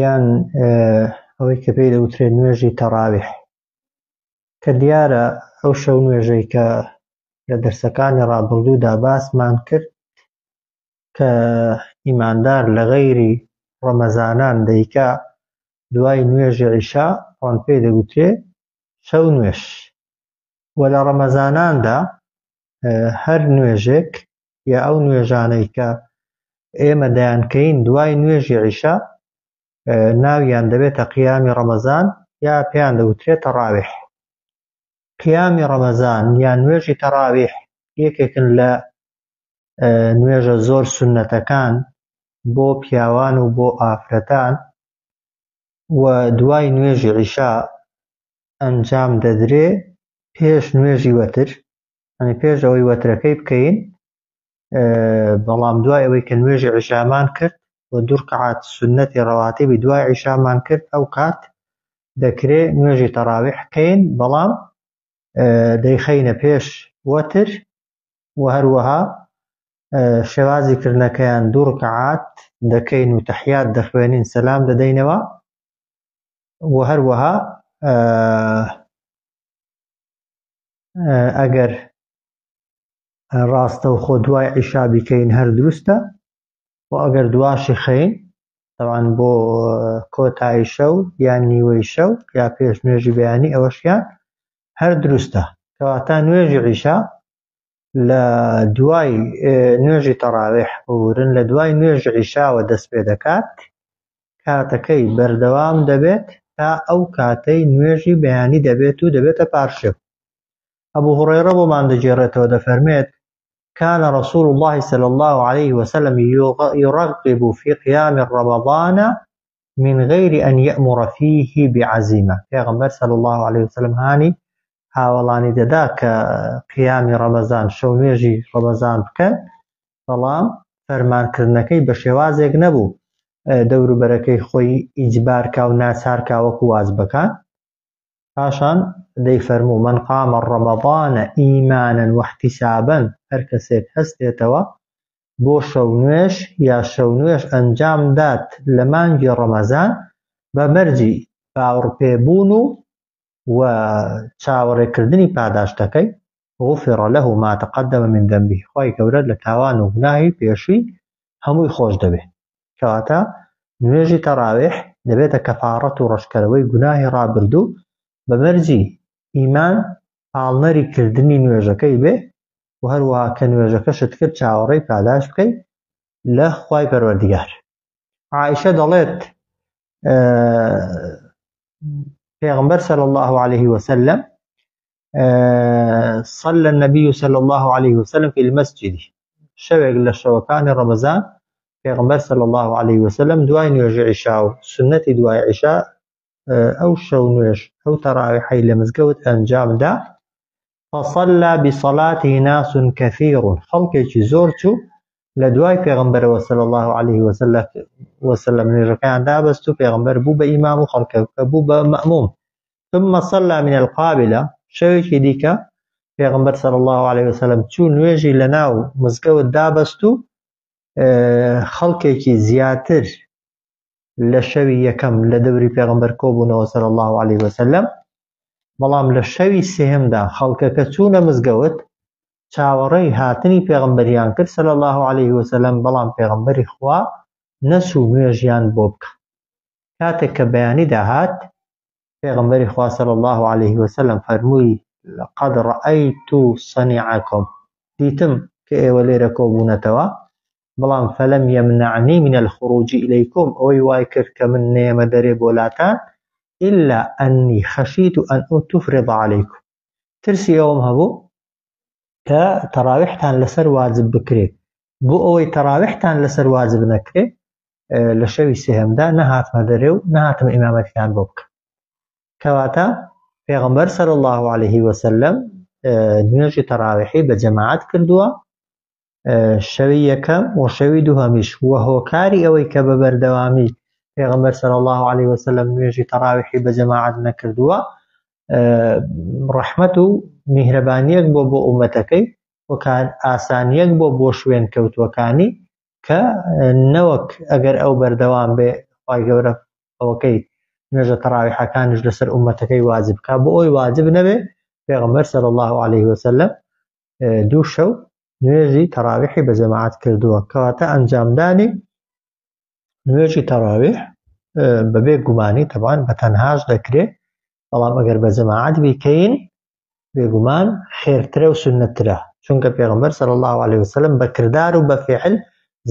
یان ئەوەی کە پێی دەوترێت نوێژی تەڕاویح کە دیارە ئەو شەو نوێژەی کە لە دەرسەکانی ڕابردوودا باسمان کرد کە ئیماندار لە غەیری ڕەمەزانان دەیکا دوای نوێژی عیشا ئەوان پێی دەگوترێ شەو نوێش و لە ڕەمەزاناندا هەر نوێژێک یا ئەو نوێژانەی کە ئێمە دەیانکەین دوای نوێژی عیشا ناویان دەبێتە قیامی ڕەمەزان یا پێیان دەوترێت تەڕاویح قیامی ڕەمەزان یا نوێژی تەڕاویح یەکێکن لە نوێژە زۆر سنەتەکان بۆ پیاوان و بۆ ئافرەتان و دوای نوێژی عیشا ئەنجام دەدرێ پێش نوێژی وەتر ئەنی پێش ئەوەی وەترەکەی بکەین بەڵام دوای ئەوەی کە نوێژی عیشامان کرد و دوورکەعات سنەتی ڕەواتیبی دوای عیشامان کرد ئەو کات دەکرێ نوێژی تەڕاوی حکەین بەڵام دەیخەینە پێش وەتر و هەروەها شێوازی کردنەکەیان دوو ڕکەعات دەکەین و تەحیات دەخوێنین سەسلام دەدەینەوە و هەروەها ئەگەر ڕاستە و خۆ دوای عیشا بیکەین هەر دروستە و ئەگەر دواشی خەین تاوان بۆ کۆتایی شەو یان نیوەی شەو یا پێش نوێژی بەیانی ئەوەشیان هەر دروستە کەواتە نوێژی عیشا لە دوای نوێژی تەڕاویح ببورن لە دوای نوێژ عیشاوە دەست پێ دەکات کاتەکەی بەردەوام دەبێت تا ئەو کاتەی نوێژی بەیانی دەبێت و دەبێتە پارشێو ئەبوو هوڕێڕە بۆمان دەگێڕێتەوە دەفەرمێت كان رسول الله صلى الله عليه وسلم يرغب في قيام رمضان من غیر ان یامر فیه بعزیمە، پێغەمبەر صلی اللە علیە وسلم هانی هاوەڵانی دەدا کە قیامی ڕەمەزان، شەو نوێژی ڕەمەزان بکەن، بەڵام فەرمان کردنەکەی بە شێوازێک نەبوو دەوروبەرەکەی خۆی ئیجبار کا و ناچار کا وەکو واجبەکان، پاشان دەیفەرموو، من قام رمضان ایمانا واحتسابا، هەر کەسێک هەستێتەوە بۆ شەونوێژ یا شەونوێژ ئەنجام دات لە مانگی ڕەمەزان بە مەرجی باوڕپێ بوون و و چاوەڕێ کردنی پاداشتەکەی، غفر له ما تقدم من ذنبه، خوای گەورە لە تاوان و گوناهی پێشووی هەمووی خۆش دەبێ. کەواتە نوێژی تەڕاویح دەبێتە کەفاڕەت و ڕەشکەرەوەی گوناهی ڕابردوو بە مەرجی ئیمان پاڵنەری کردنی نوێژەکەی بێ و هەروەها کە نوێژەکەشت کرد چاوەڕێی پاداش بکەیت لە خوای پەروەردگار عائشە دەڵێت پێغمبەر صلى الله عليه وسلم صلى النبي صلى الله عليه وسلم في المسجد شەوێک لە شەوەکانی ڕەمەزان پێغمبەر صلى الله عليه وسلم دوای نوێژ عیشا و سنەتی دوای عیشا ئەو شەو نوێش ئەو تەڕاوی حی لە مزگەوت ئەنجامدا فصلی بصلاته ناس کثیر خەڵکێکی زۆر چوو لە دوای پێغمبەرەوە صلی الله علیه وسلم نوێژەکەیان دابەست و پێغمبەر بوو بە ئیمام و خەڵکەکە بوو بە مەموم ثم صلى من القابلة شەوێکی دیکە پێغمبەر صلی الله عليه وسلم چوو نوێژی لە ناو مزگەوت دابەست و خەڵکێکی زیاتر لە شەوی یەکەم لە دەوری پێغمبەر کۆبوونەوە سەر الله عليه وسلم بەڵام لە شەوی سێهمدا خەڵکەکە چوونە مزگەوت چاوەڕێی هاتنی پێغمبەریان کرد سەر الله عليه وسلم بەڵام پێغمبەری خوا نەچوو نوێژیان بۆ بکە کاتێک کە بەیانی داهات پێغمبەری خوا سەر الله عليه وسلم فەرمووی لەقەد ڕەئەیت و سەنیعەکم دیتم کە ئێوە لێرە کۆبوونەتەوە بەڵام فلم یمنعنی من الخروج الیکم ئەوەی وای کرد کە من نەیەمە دەرێ بۆ لاتان الا انی خشیت ان اتفرض علیکم ترسی ئەوەم هەبوو کە تەراویحتان لەسەر واجب بکرێت بۆ ئەوەی تەراویحتان لەسەر واجب نەکرێت لە شەوی سێهمدا نەهاتمە دەرێ و نەهاتم ئیمامەتیان بۆ بکە کەواتە پێغمبەر سەر الله عليه وسلم نوێژی تەراویحی بە جەماعات کردووە شەوی یەکەم و شەوی دووهەمیش و هۆکاری ئەوەی کە بە بەردەوامی پێغمبەر سەر الله عليه وسلم نوێژی تەراویحی بە جەماعات نەکردووە ڕەحمەت و میهرەبانیەک بۆ بۆ ئومەتەکەی وەکان ئاسانیەک بۆ بۆ شوێن کەوتووەکانی کە نەوەک ئەگەر ئەو بەردەوام بێ خی گەورە ئەوەکەی نوێژە تەراویحەکانش لەسەر ئومەتەکەی واجب بکە بۆ ئەوی واجب نەبێ پێغمبەر سەر الله عليه وسلم دوو شەو نوێژی تەراویحی بە جەماعەت کردووە کەواتە ئەنجامدانی نوێژی تەراویح بەبێ گومانی تەبان بە تەنهاش دەکرێ بەڵام ئەگەر بە جەماعەت بیکەین بێگومان خێرترە و سنترە چونکە پێغمبەر سەر الله عليه وسلم بە کردار و بە فعل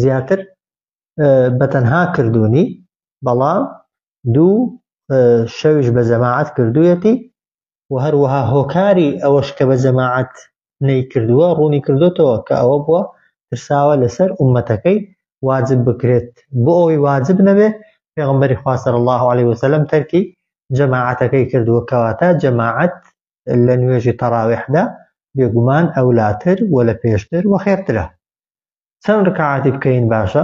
زیاتر بە تەنها کردوونی بەڵام دوو شەویش بە جەماعەت کردوویەتی و هەروەها هۆکاری ئەوەش کە بە جەماعەت نەیکردووە ڕوونی کردوتەوە کە ئەوە بووە ترساوە لەسەر ئومەتەکەی واجب بکرێت بۆ ئەوەی واجب نەبێ پێغمبەری خوا صلی الله علیه وسلم تەرکی جەماعەتەکەی کردووە کەواتە جەماعەت لە نوێژی تەراویحدا بێگومان ئەولاتر و لە پێشتر و خێرترە چەند ڕکعاتی بکەین باشە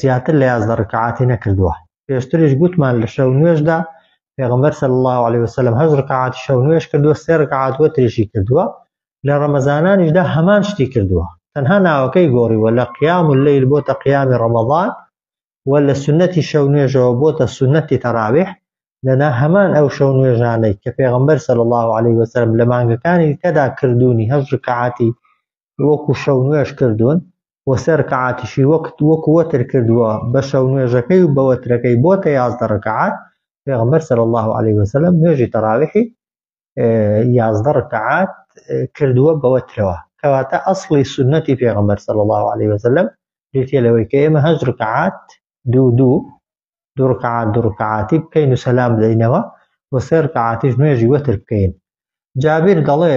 زیاتر لە یازدە ڕکعاتی نەکردووە پێشتریش گوتمان لە شەو نوێشدا پێغمبەر صلی الله عليه وسلم هەز ڕکعات شەو نوێش کردووە سێ ڕکعات وەتریشی کردووە لە ڕەمەزانانیشدا هەمان شتی کردووە تەنها ناوەکەی گۆڕیوە لە قیام و لەیل بۆتە قیامی ڕەمەضان و لە سنەتی شەو نوێژەوە بۆتە سنەتی تەراویح لەنا هەمان ئەو شەو نوێژانەی کە پێغمبەر صلی الله عليه وسلم لە مانگەکانی کەدا کردوونی هەز ڕکعاتی وەکو شەو نوێژ کردوون و سێ رکعاتیشی وەکت وەکو وەتر کردووە بە شەو نوێژەکەی و بە وەترەکەی بۆتە یازدە رکعات پێغەمبەر صلی الله علیه وسلم نوێژی تەراویحی یازدە رکعات کردووە بە وەترەوە کەواتە ئەسڵی سنەتی پێغەمبەر صلی الله علیه وسلم بریتە لەوەی کە ئێمە هەشت رکعات دوو دوو دوو رکعات دوو رکعاتی بکەین و سەلام بدەینەوە و سێ رکعاتیش نوێژی وەتر بکەین جابیر دەڵێ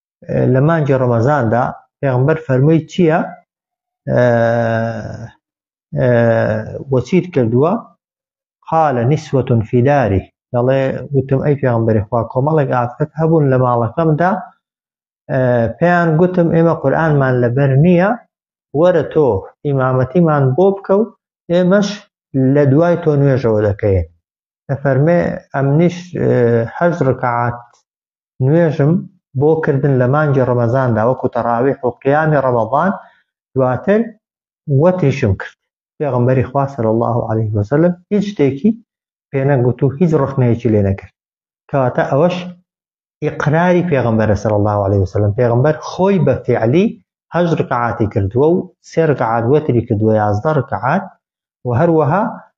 لە مانگی ڕەمەزاندا پێغمبەر فەرمووی چییە وەچیت کردووە قالە نیسوەتون فیداری دەڵێ وتم ئەی پێغمبەری خوا کۆمەڵێک ئافرەت هەبوون لە ماڵەکەمدا پێیان گوتم ئێمە قورآنمان لەبەر نییە وەرە تۆ ئیمامەتیمان بۆ بکە و ئێمەش لە دوای تۆ نوێژەوە دەکەین فەرمێ ئەمنیش هەشت ڕکعات نوێژم بۆ کردن لە مانگی ڕەمەزاندا وەکو تەڕاویح و قیامی ڕەمەضان دواتر وەتریشم کرد پێغەمبەری خوا صلی اللە علیه وسلم هیچ شتێکی پێنەگوت و هیچ ڕخنەیەکی لێ نەکرد کەواتە ئەوەش ئیقراری پێغەمبەرە صلی اللە علیه وسلم پێغەمبەر خۆی بە فعلی هەشت ڕکعاتی کردووە و سێ ڕکعات وەتری کردووە یازدە ڕکعات و هەروەها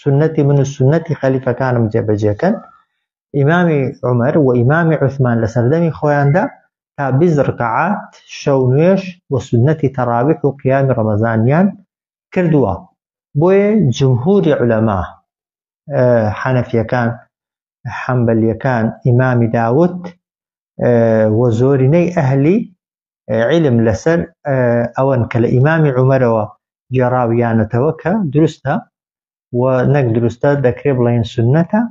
سنەتی من و سنەتی خەلیفەکانم جێبەجێکەن ئیمامی عمر و ئیمامی عثمان لە سەردەمی خۆیاندا تا بیز ڕکەعات شەو نوێش و سنەتی تەراویح و قیامی ڕەمەزانیان کردووە بۆیە جمهوری علەما حەنەفیەکان حەمبەلیەکان ئیمامی داوت و زۆرینەی ئەهلی عیلم لەسەر ئەوەن کە لە ئیمامی عومەرەوە گێڕاویانەتەوە کە دروستە و نەک دروستە دەکرێ بڵێن سنەتە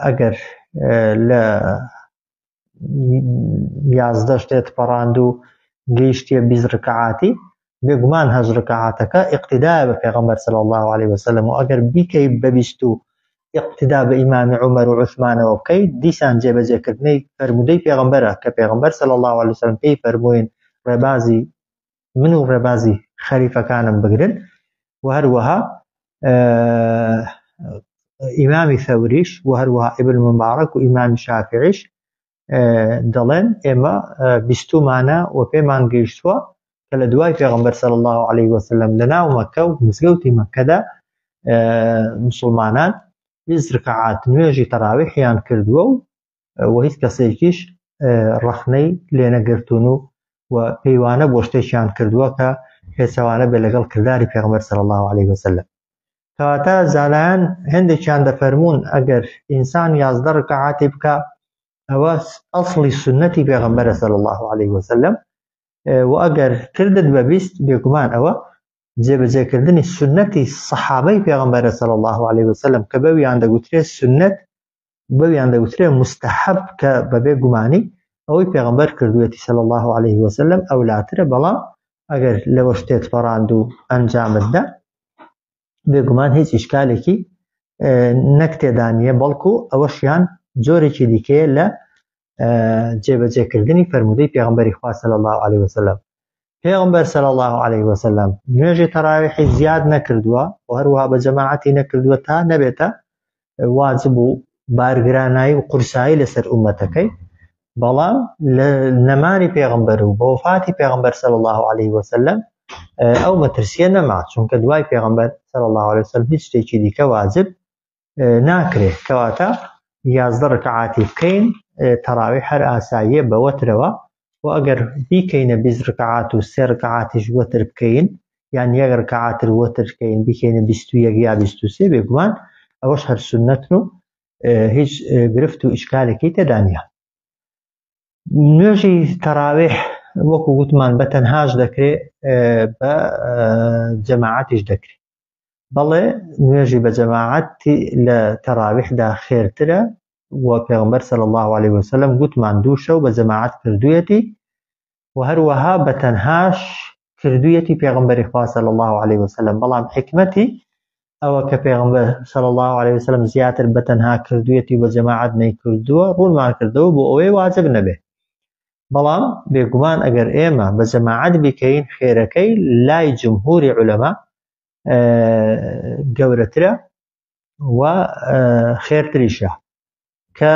ئەگەر لە یازدەش دێت پەڕاند و گەیشتە بیزڕکەعاتی بێگومان هەشت رکەعاتەکە ئیقتیدایە بە پێغەمبەر صلی اللە علیە وسلم و ئەگەر بیکەی بە بیست و ئیقتیدا بە ئیمام عمر و عثمانەوە بکەی دیسان جێبەجێکردنەی فەرمودەی پێغەمبەرە کە پێغەمبەر صلی اللە علیه وسلم پێی فەرمووین ڕێبازی من و ڕێبازی خەریفەکانم بگرن و هەروەها ئیمامی ثەوریش و هەروەها ئیبن مبارەک و ئیمامی شافعیش دەڵێن ئێمە بیستمانە و پێمان گەیشتووە کە لە دوای پێغمبەر سەر الله عليه وسلم لە ناو مەکە و مزگەوتی مەکەدا مسلمانان زرکعات نوێژی تەراویحیان کردووە و و هیچ کەسێکیش ڕەخنەی لێنەگرتون و و پەیوانە بۆ شتێکیان کردووە کە پێچوانە بێ لەگەڵ کردداری پێغمبەر سەر الله عليه وسلم کەواتە زانایان هەندێکیان دەفەرموون ئەگەر ئینسان یازدە ڕکعاتی بکە ئەوە ئەسڵی سنەتی پێغەمبەرە سەل الله عليه وسلم و ئەگەر کردت بە بیست بێگومان ئەوە جێبەجێکردنی سنەتی سەحابەی پێغەمبەرە سەل الله عليه وسلم کە بەویان دەگوترێت سنەت بەویان دەوترێ مستحب کە بەبێ گومانی ئەوەی پێغمبەر کردوێتی سەل الله عليه وسلم ئەو لاترە بەڵام ئەگەر لەوە شتێت پەڕاند و ئەنجامتدا بێگومان هیچ ئیشکالێکی نەک تێدانە بەڵکو ئەوەشیان جۆرێکی دیکەیە لە جێبەجێکردنی فەرمودەی پێغمبەری خوا صلی الله عليه وسلم پێغمبەر صلی الله عليه وسلم نوێژی تەراویحی زیاد نەکردووە و هەروها بە جەماعەتی نەکردووە تا نەبێتە واجب و بارگرانایی و قورسایی لەسەر ئومەتەکەی بەڵام لە نەمانی پێغمبەر و بۆفاتی پێغمبەر سەر الله عليه وسلم ئەو مەترسیە نەما چونکە دوای پێغمبەر سەر الله عليه وسلم هیچ شتێکی دیکە واجب ناکرێت کەواتە یازدە ڕکعاتی بکەین تەراوی هەر ئاساییە بەوەترەوە و ئەگەر بیکەینە بیست ڕکعات و سێ ڕکعاتیش وەتر بکەین یان یەک ڕکعاتر وەتر بکەین بیکەینە بیست و یەک یا بیست و سێ بێگومان ئەوەش هەر سنەتن و هیچ گرفت و ئیشکالێکی تێدانە نوێژی تەراوێ وەکو گوتمان بە تەنهاش دەکرێت بە جەماعاتیش دەکرێت بەڵێ نوێژی بە جەماعەت لە تەراویحدا خێرترە و پێغمبەر صلی الله عليه وسلم گوتمان دوو شەو بە جەماعەت کردویەتی و هەروەها بە تەنهاش کردویەتی پێغمبەری خوا صلی الله عليه وسلم بەڵام حکمەتی ئەوە کە پێغمبەر صلی الله عليه وسلم زیاتر بە تەنها کردویەتی و بە جەماعەت نەیکردووە ڕوونمان کردەوە بۆ ئەوەی واجب نەبێ بەڵام بێگومان ئەگەر ئێمە بە جەماعەت بیکەین خێرەکەی لای جمهوری عولەما گەورەترە و خێرتریشە کە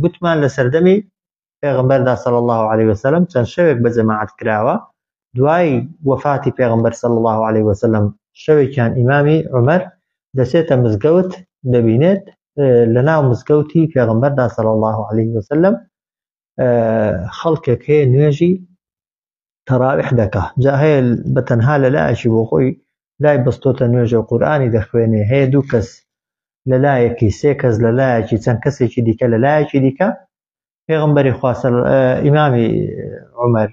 گوتمان لە سەردەمی پێغمبەردا سەڵ الله عليه وسلم چەند شەوێک بە جەماعات کراوە دوای وەفاتی پێغمبەر سەڵ الله عليه وسلم شەوێکیان ئیمامی عمر دەچێتە مزگەوت دەبینێت لە ناو مزگەوتی پێغمبەردا سەڵ الله عليه وسلم خەڵکێک هەیە نوێژی تەراویح دەکا جا هەیە بە تەنها لە لایەکی بۆ خۆی لای بەستۆتە نوێژە و قورآانی دەخوێنێ هەیە دوو کەس لە لایەکی سێ کەس لە لایەکی چەند کەسێکی دیکە لە لایەکی دیکە پێغمبەری خواسە ئیمامی عمر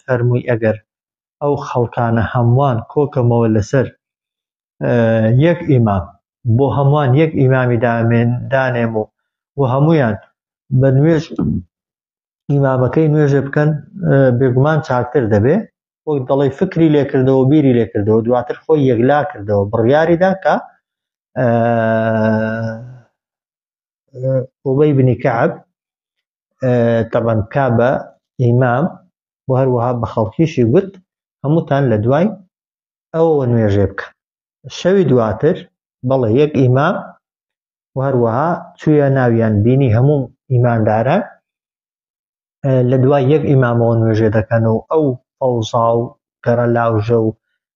فەرمووی ئەگەر ئەو خەڵکانە هەمووان کۆکەمەوە لەسەر یەک ئیمام بۆ هەمووان یەک ئیمامی دامێن دانێم و و هەمویان بە نوێژ ئیمامەکەی نوێژێ بکەن بێگومان چاکتر دەبێ وەک دەڵی فکری لێکردەوە بیری لێکردەوە دواتر خۆی یەکلا کردەوە بڕیاریدا کە ئەوبەی بنی کەعب تەبەن کا بە ئیمام و هەروەها بە خەڵکیشی گوت هەمووتان لە دوای ئەوەوە نوێژێ بکە شەوی دواتر بەڵێ یەک ئیمام و هەروەها چویە ناویان بینی هەموو ئیمانداران لە دوای یەک ئیمامەوە نوێژێ دەکەن و ئەو ئەوزا و گەڕە لاوژە و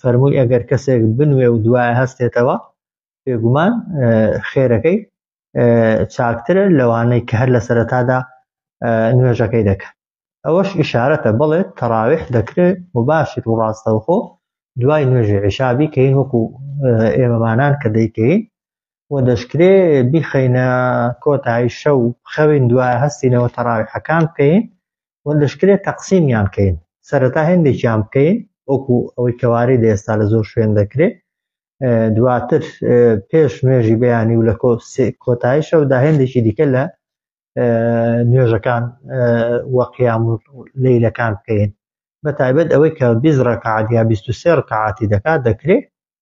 فەرمووی ئەگەر کەسێک بنوێ و دوای هەستێتەوە بێگومان خێرەکەی چاکترە لەوانەی کە هەر لە سەرەتادا نوێژەکەی دەکەن ئەوەش ئشارەتە بڵێت تەراویح دەکرێت مباشر و ڕاستەوخۆ دوای نوێژی عیشابی کەین وەکو ئێمەمانان کە دەیکەین و دەشکرێ بیخەینە کۆتایی شەو خەوین دوای هەستینەوە تەراویحەکان بکەین و دەشکرێ تەقسیمیان بکەین سەرەتا هێندێکیان بکەین وەکو ئەوەی کەوارەی لە ئێستا لە زۆر شوێن دەکرێ دواتر پێش نوێژی بەیانی و لە کۆتایی شەودا هێندێکی دیکە لە نوێژەکان وەقیام و لەیلەکان بکەین بە تایبەت ئەوەی کە بیزڕە کەعادیا 23 ڕکەعاتی دەکات دەکرێت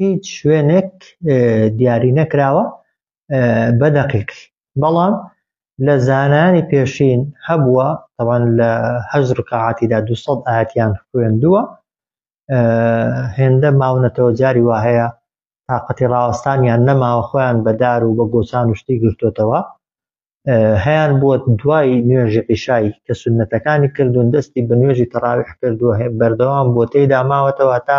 هیچ شوێنێک دیاری نەکراوە بە دەقیق بەڵام لە زانانی پێشین هەبووە تەوان لە هەز ڕکعاتیدا دو ئاەتیان خوێندووە هێندە ماونەتەوە جاری وا هەیە تااقەتی ڕاوەستانیان نەماوە خۆیان بەدار و بە گۆچان و شتی گرتوتەوە هەیان بووە دوای نوێژی عیشایی کە سنتەکانی کردوون دەستی بە نوێژی تەڕاویح کردووە هەیە بەردەوام بۆ تێدا ماوەتەوە تا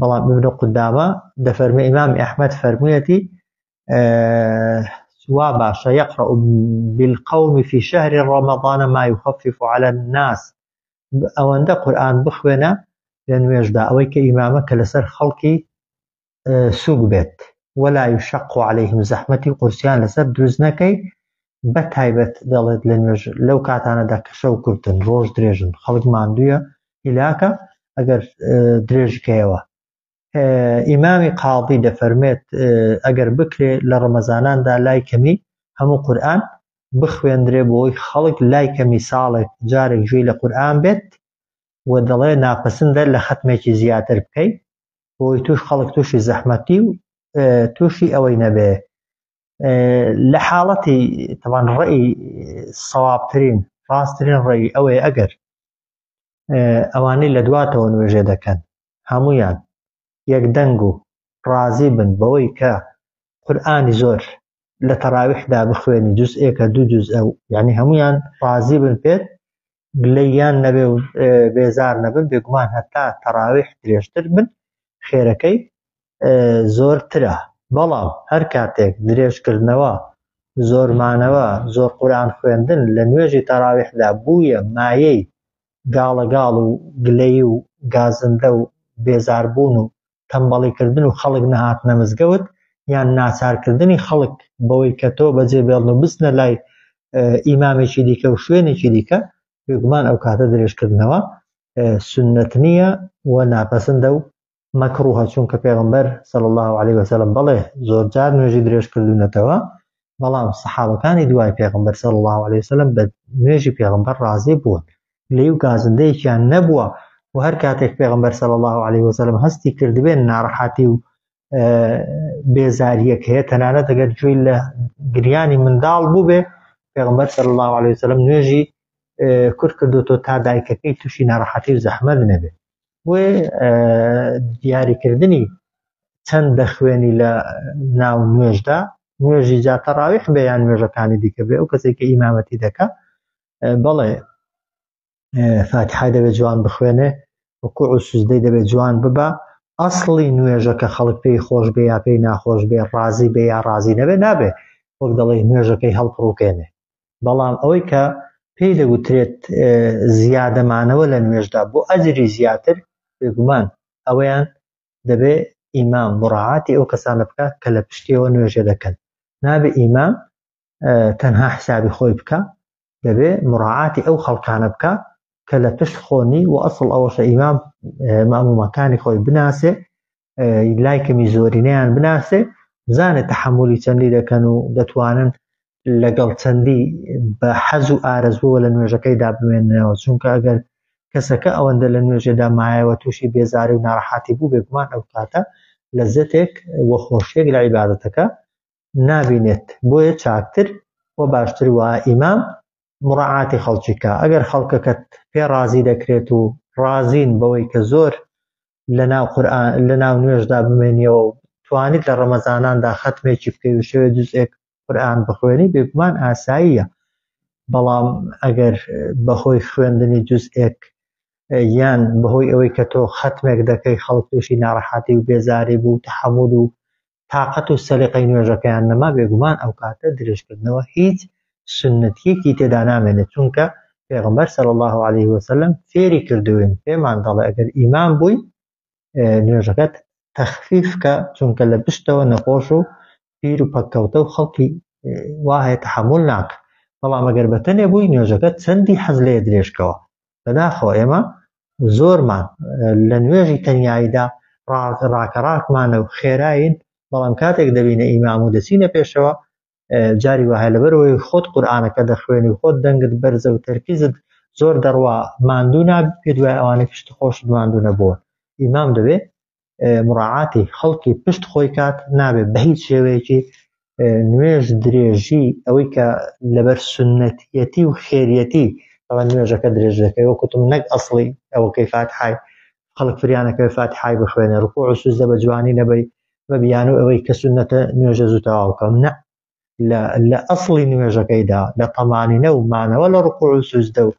بەڵام ابن قدامە دەفەرمە ئیمام ئەحمد فەرموویەتی وا باشە یقرأ بالقوم في شهر رمضان ما يخفف على الناس ئەوەندە قورآن بخوێنە لە نوێژدا ئەوەی کە ئیمامە کە لەسەر خەڵکی سوک بێت ولا يشق عليهم زەحمەتی قورسیان لەسەر دروست نەکەی بە تایبەت دەڵێت لە نوێژ لەو کاتانەدا کە شەو کورتن ڕۆژ درێژن خەڵک ماندووە هیلاکە ئەگەر درێژکەیەوە ئیمامی قاڵبی دەفەرمێت ئەگەر بکرێ لە ڕەمەزاناندا لای کەمی هەموو قورآن بخوێندرێ بۆی خەڵک لای کەمی ساڵێک جارێک گوێی لە قورآن بێت و دەڵێ ناپەسندە لە خەتمێکی زیاتر بکەیت بۆی توش خەڵک تووشی زەحمەتی و تووشی ئەوەی نەبێ لە حاڵەتی تەوان ڕێی سەوابترین ڕاستترین ڕێی ئەوەیە ئەگەر ئەوانەی لە دواتەوە نوێژێ دەکەن هەمویان یەک دەنگ و ڕازی بن بەوەی کە قورآانی زۆر لە تەراویحدا بخوێنی جوزئێکە دوو جوز ئەو یعنی هەمویان ڕازی بن پێت گلەییان نەبێ و بێزار نەبن، بێگومان هەتا تەراویح درێژتر بن خێرەکەی زۆرترە، بەڵام هەر کاتێک درێژکردنەوە، زۆرمانەوە، زۆر قورئان خوێندن لە نوێژی تەراویحدا بوویە مایەی گاڵەگاڵ و گلەیی و گازندە و بێزاربوون و تەمبەڵیکردن و خەڵک نەهاتنە مزگەوت یان ناچارکردنی خەڵک بەوەی کە تۆ بەجێ بێڵن و بچنە لای ئیمامێکی دیکە و شوێنێکی دیکە بێگومان ئەو کاتە درێژکردنەوە سنت نییە و ناپەسندە و مەکڕوهە چونکە پێغمبەر سەڵ الله عليه وسلم بڵێ زۆرجار نوێژی درێژکردونەتەوە بەڵام سەحابەکانی دوای پێغمبەر صلی الله عليه وسلم بە نوێژی پێغمبەر ڕازی بوون لێی و گازندەیەکیان نەبووە و هەر کاتێک پێغمبەر صلی الله عليه وسلم هەستی کردبێن ناڕەحاتی و بێزاریەک هەیە تەنانەت دەگەر گوێی لە گریانی منداڵ بووبێ پێغمبەر صلی الله عليه وسلم نوێژی کورد کردوتۆ تا دایکەکەی تووشی ناڕەحەتی و زەحمەت نەبێت بۆیە دیاریکردنی چەند دەخوێنی لە ناو نوێژدا نوێژی جاتە ڕاویح بێ یان نوێژەکانی دیکە بێ ئەو کەسێک کە ئیمامەتی دەکە بەڵێ فاتحای دەبێت جوان بخوێنێ وکوع و سوزدەی دەبێت جوان ببە ئەسڵی نوێژە کە خەڵک پێی خۆش بێ یا پێی ناخۆش بێ ڕازی بێ یا ڕازی نەبێ نابێ وەک دەڵێ نوێژەکەی هەڵپڕوکێنێ بەڵام ئەوەی کە پێی دەگوترێت زیادە مانەوە لە نوێژدا بۆ ئەجری زیاتر بێگومان ئەوەیان دەبێ ئیمام مڕاعاتی ئەو کەسانە بکە کە لە پشتیەوە نوێژە دەکەن نابێ ئیمام تەنها حسابی خۆی بکە دەبێ مڕاعاتی ئەو خەڵکانە بکە کە لە پشت خۆنی و ئەسڵ ئەوەشە ئیمام مامومەکانی خۆی بناسێ لای کەمی زۆرینەیان بناسێ بزانێ تحملی چەندی دەکەن و دەتوانن لەگەڵ چەندی بە حەز و ئارەزبووە لە نوێژەکەیدا بمێنەوە چونکە ئەگەر کەسەکە ئەوەندە لە نوێژێدا مایەوە تووشی بێزاری و ناڕەحاتی بوو بێگومان ئەو کاتە لە زەتێک وە خۆشیێک لە عیباەتەکە نابینێت بۆیە چاکتر و باشتر وە ئیمام مڕعاتی خەڵکیکە ئەگەر خەڵکەکەت پێ ڕازی دەکرێت و ڕازین بەوەی کە زۆر لەناو قورئان لەناو نوێژدا بمێنیەوە و توانیت لە ڕەمەزاناندا خەتمێکی بکەی و شەوێ جوزئێک قورئان بخوێنی بێگومان ئاساییە بەڵام ئەگەر بەهۆی خوێندنی جوزئێک یان بەهۆی ئەوەی کە تۆ خەتمێک دەکەی خەڵک تووشی ناڕەحەتی و بێزاری بوو تەحەمول و تاقەت و سەلیقەی نوێژەکەیان نەما بێگومان ئەو کاتە درێژکردنەوە هیچ سنەتیەکی تێدا نامێنێ چونکە پێغمبەر صلی الله عليه وسلم فێری کردوین پێمان دەڵێ ئەگەر ئیمان بووی نوێژەکەت تەخفیف کە چونکە لە پشتەوە نەخۆش و پیر و پەککەوتە و خەڵکی وایە تحمل ناکە بەڵام ئەگەر بەتەنێ بووی نوێژەکە چەندی حەز لێ درێژکەوە بەداخەوە ئێمە زۆرمان لە نوێژی تەنیاییدا ڕاکە ڕاکمانە و خێراین بەڵام کاتێک دەبینە ئیمام و دەچینە پێشەوە جاری وهە لەبەرەوەی خۆت قورآانەکە دەخوێنی و خۆت دەنگت بەرزە و تەرکیزت زۆر دەڕوا ماندوو نابی پێ دوای ئەوانە پشت خۆشت ماندوو نەبووە ئیمام دەبێ مڕعاتی خەڵکی پشت خۆی کات نابێت بە هیچ شێوەیەکی نوێژ درێژی ئەوەی کە لەبەر سنەتیەتی و خێریەتی ئەوە نوێژەکە درێژ دەکەی وە کوتم نەک ئەسڵی ئەوەکەی فاتحای خەڵک فریانەکەی فاتحای بخوێنێ ڕکو و سوزدە بە جوانی نەبەی بە بیانو ئەوەی کە سنەتە نوێژە زوو تەواو بکەم نە لە لە ئەسڵی نوێژەکەیدا لە تەمانینە و مانەوە لە ڕکوع و سوجدە و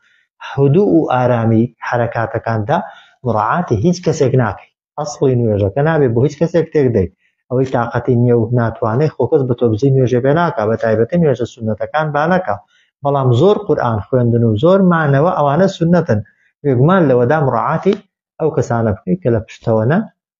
هدوء و ئارامی حەرەکاتەکاندا مراعاتی هیچ کەسێک ناکەی ئەسڵی نوێژەکە نابێ بۆ هیچ کەسێک تێک دەی ئەوەی تااقەتی نییە و ناتوانێ خۆکەس بە تۆبزی نوێژێ بێ ناکە بە تایبەتی نوێژە سونەتەکان بانەکە بەڵام زۆر قورآن خوێندن و زۆر مانەوە ئەوانە سونەتن بێگومان لەوەدا مراعاتی ئەو کەسانە بکەیت کە لە پشتەوەە